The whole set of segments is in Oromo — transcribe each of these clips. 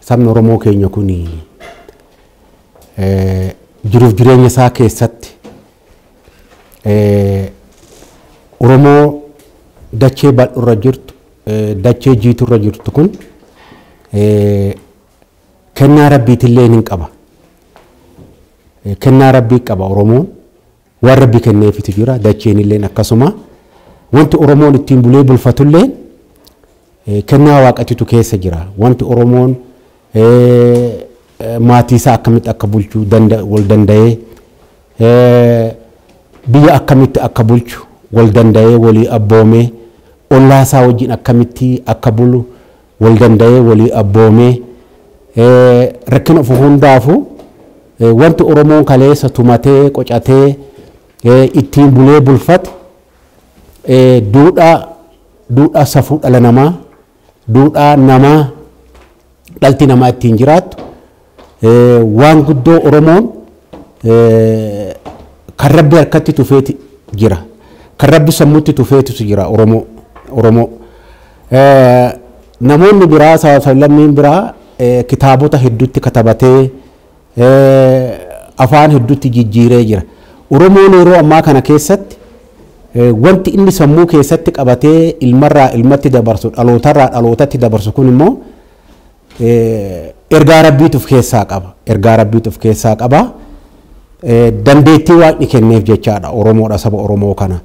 Sabni Oromoo keenya kun jiruuf jireenya isaa keessatti Oromoo dachee bal'oorra jirtu, dachee jiiturra jirtu kun kennaa rabbiitillee hin qaba. Kennaa rabbii qaba Oromoon. Waan Rabbi kenneefitu jira, dacheenilleen akkasuma. Wanti Oromoon ittiin bulee bulfatulleen kennaa Waaqatitu keessa jira. Wanti Oromoon maatiisaa akkamitti akka bulchu wal danda'ee, biyya akkamitti akka bulchu wal danda'ee walii abboomee, ollaasaa wajjin akkamitti akka bulu, wal danda'ee walii abboomee rakkina dhufu hundaafu wanti Oromoon kaleessa tumatee qocatee ittiin bulee bulfate duudhaa duudhaa safuu dhala namaa duudhaa namaa dhalti namaa ittiin jiraattu Waan guddoo Oromoon kan Rabbi harkatti tufeeti jira. Kan Rabbi sammutti tufeetus jira Oromoo. Oromoo. Namoonni biraa saba sablammiin biraa kitaabota hedduutti katabatee afaan hedduutti jijjiiree jira. Oromoon yeroo ammaa kana keessatti wanti inni sammuu keessatti qabatee ilmarraa ilmatti dabarsu dhalootarraa dhalootatti dabarsu kun immoo Ergaa Rabbiitu of keessaa qaba. Ergaa Rabbiitu of keessaa qaba. Dandeettii Waaqni kenneef jechaadha Oromoodha saba Oromoo kana.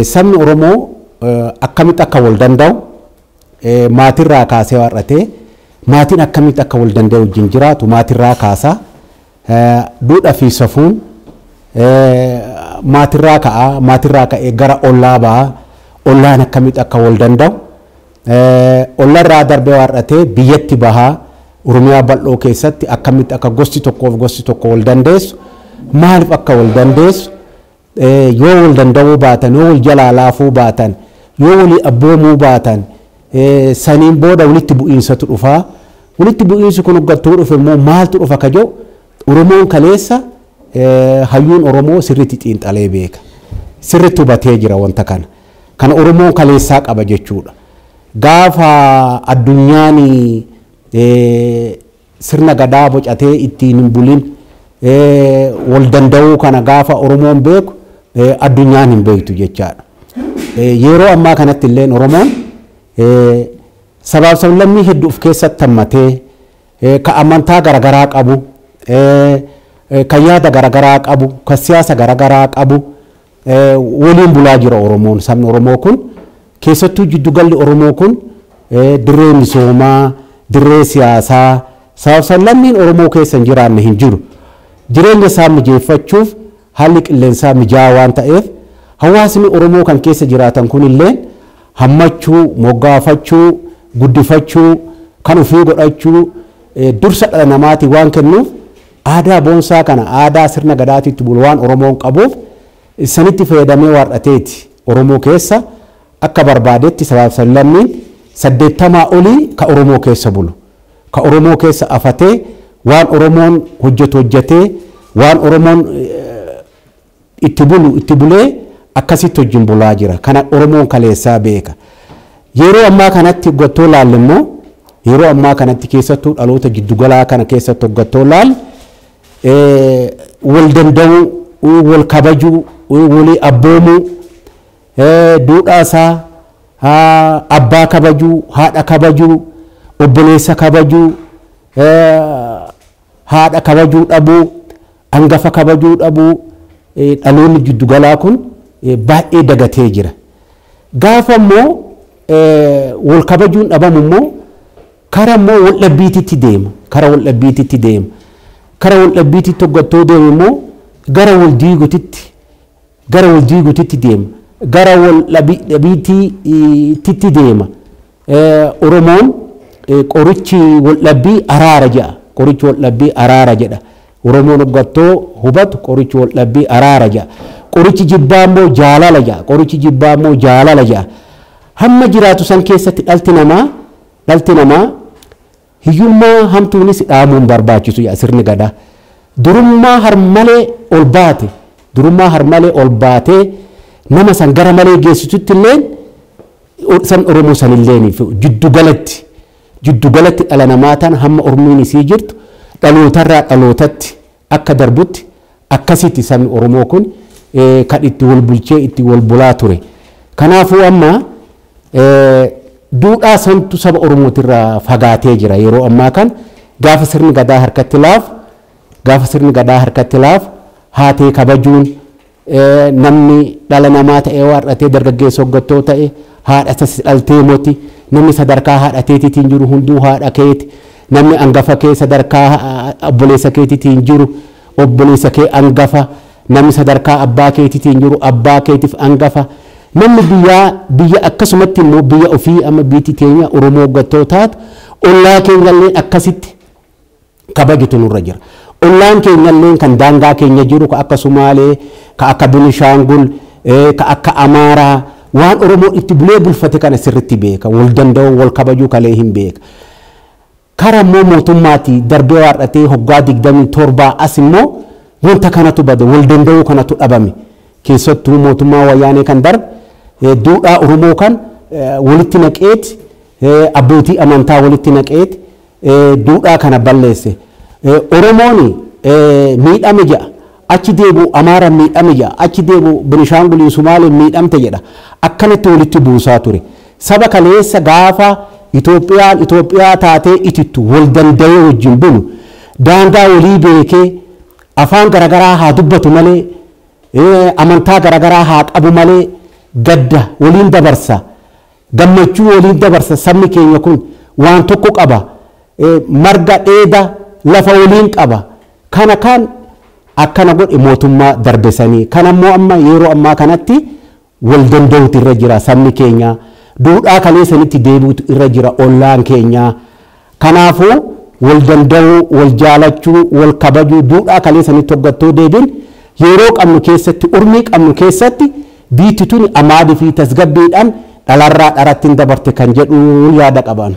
Sabni Oromoo akkamitti akka wal danda'u maatirraa kaasee har'atee maatiin akkamitti akka wal danda'e wajjin jiraatu maatirraa kaasa. Duudhaa fi safuun maatirraa ka'a, maatirraa ka'ee gara ollaa ba'a, ollaan akkamitti akka wal danda'u, ollarraa darbee har'atee biyyatti baha, Oromiyaa bal'oo keessatti akkamitti akka gosti tokkoo fi gosti tokko wal dandeessu, maaliif akka wal dandeessu, Yoo wal danda'uu baatan, yoo wal jalaa laafuu baatan, yoo walii abboomuu baatan, saniin booda walitti bu'iinsatu dhufa. Walitti bu'iinsi kun hoggattuu dhufe immoo maaltu dhufa ka jedhu Oromoon kaleessa hayyuun Oromoo sirriitti xiinxalee beeka. Sirriitti hubatee jira wanta kana. Kana Oromoon kaleessaa qaba jechuudha. Gaafa addunyaan Sirna Gadaa bocatee ittiin hin bulin, wal danda'uu kana gaafa Oromoon beeku addunyaan hin beektu jechaadha. Yeroo ammaa kanatti illeen Oromoon sabaaf sablammii heddu of keessatti hammatee, ka amantaa garagaraa qabu, ka yaada garagaraa qabu, ka siyaasa garagaraa qabu, waliin bulaa jira Oromoon, sabni Oromoo kun. Keessattuu jiddu galli Oromoo kun dirree misoomaa, dirree siyaasaa, sabab sablammiin Oromoo keessa hin jiraanne hin jiru. Jireenya isaa mijeeffachuuf haalli qilleensaa mijaa'aa waan ta'eef hawaasni Oromoo kan keessa jiraatan kun illeen hammachuu, moggaafachuu, guddifachuu, kan ofii godhachuu dursa dhala namaatii waan kennuuf, Aadaa boonsaa kana aadaa sirna Gadaatii itti bulu waan Oromoon qabuuf issanitti fayyadamee waar'ateeti Oromoo keessa akka barbaadetti sabaaf sablammiin 80 olii ka Oromoo keessa bulu, ka Oromoo keessa afatee waan Oromoon hojjatu hojjatee waan Oromoon itti bulu itti bulee akkasitti wajjin bulaa jira. Kana Oromoon kaleessaa beeka. Yeroo ammaa kanatti hoggattoo ilaalle immoo yeroo ammaa kanatti keessattuu dhaloota giddu galaa kana keessatti hoggattoo ilaalle wal danda'uu, wal kabajuu, walii abboomuu, duudhaa isaa abbaa kabajuu, haadha kabajuu, obboleessa kabajuu, Haadha kabajuu dhabuu, angafa kabajuu dhabuu dhaloonni jiddu galaa kun baay'ee dagatee jira. Gaafa immoo wal kabajuun dhabamu immoo kara immoo wal dhabbiititti deema. Kara wal dhabbiititti deema. Kara wal dhabbiititti hoggattoo deemu immoo gara wal diigutitti gara wal diigutitti deema, gara wal dhabiitti titti deema. Oromoon qorichi wal dhabbii araara jedha. Qorichi wal dhabbii araara jedha. Oromoon hoggattoo hubatu qorichi wal dhabbii araara jedha. Qorichi jibbaa immoo jaalala jedha. Qorichi jibbaa immoo jaalala jedha. Hamma jiraatu san keessatti dhalti namaa dhalti namaa Hiyyummaa hamtuunis dhaamuu hin barbaachisu yaa sirni Gadaa. Durummaa harmalee ol baate, durummaa harmalee ol baatee nama san gara malee geessitutti illeen san Oromoo san illeen jiddu galatti jiddu galatti dhala namaa tana hamma ormiin isii jirtu dhalootarraa dhalootatti akka darbutti akkasitti sabni Oromoo kun kan itti wal bulchee itti wal bulaa ture. Kanaafuu amma duudhaa santu saba Oromootirraa fagaatee jira yeroo ammaa kan gaafa sirni gadaa harkatti laafu gaafa sirni gadaa harkatti laafu haatee kabajuun Namni dhala namaa ta'ee waar'atee dargaggeessa hoggattoo ta'e haadha isa si dhaltee moti. Namni sadarkaa haadha teetiitiin jiru hunduu haadha keeti. Namni angafa kee sadarkaa obboleessa keetiitiin jiru obboleessa kee angafa. Namni sadarkaa abbaa keetiitiin jiru abbaa keetiif angafa. Namni biyyaa biyya akkasumatti immoo biyya ofii amma biitti teenya Oromoo hoggattoo taatu ollaa keenyalleen akkasitti kabajutu nurra jira. Ollaan keenyalleen kan daangaa keenya jiru ka akka Sumaalee, ka akka Binishaangul, ka akka Amaaraa waan Oromoon itti bulee bulfate kana sirritti beeka. Wal danda'uu, wal kabajuu kalee hin beeka. Kara immoo mootummaati darbee waardhatee hoggaa 27 as immoo wanta kanatu bade, wal danda'uu kanatu dhabame. Keessattuu mootummaa Wayyaanee kan darbe duudhaa Oromoo kan walitti naqeeti, abbootii amantaa walitti naqeeti, duudhaa kana balleesse. Oromoon miidhame jedha. Achi deebi'u Amaaraan miidhame jedha. Achi deebi'u Benishaanguliin Sumaaleen miidhamte jedha. Akkanatti walitti buusaa ture. Saba kaleessa gaafa Itoophiyaan Itoophiyaa taatee itittu wal danda'ee wajjin bulu daangaa walii beekee afaan garagaraa haa dubbatu malee amantaa garagaraa haa qabu malee gadda waliin dabarsa. Gammachuu waliin dabarsa sabni keenya kun waan tokko qaba marga dheeda lafa waliin qaba kana kaan akkana godhe mootummaa darbe sanii kan ammoo amma yeroo ammaa kanatti wal danda'uutu irra jira sabni keenya duudhaa kalee sanitti deebi'utu irra jira ollaan keenya Kanaafuu, wal danda'uu, wal jaalachuu, wal kabajuu, duudhaa kalee sanitti hogga ittoo deebin, yeroo qabnu keessatti, urmii qabnu keessatti biitti tuni amaadi fi tasgabbiidhan dhalarraa dharatti hin dabarte kan jedhuun yaada qaba ani.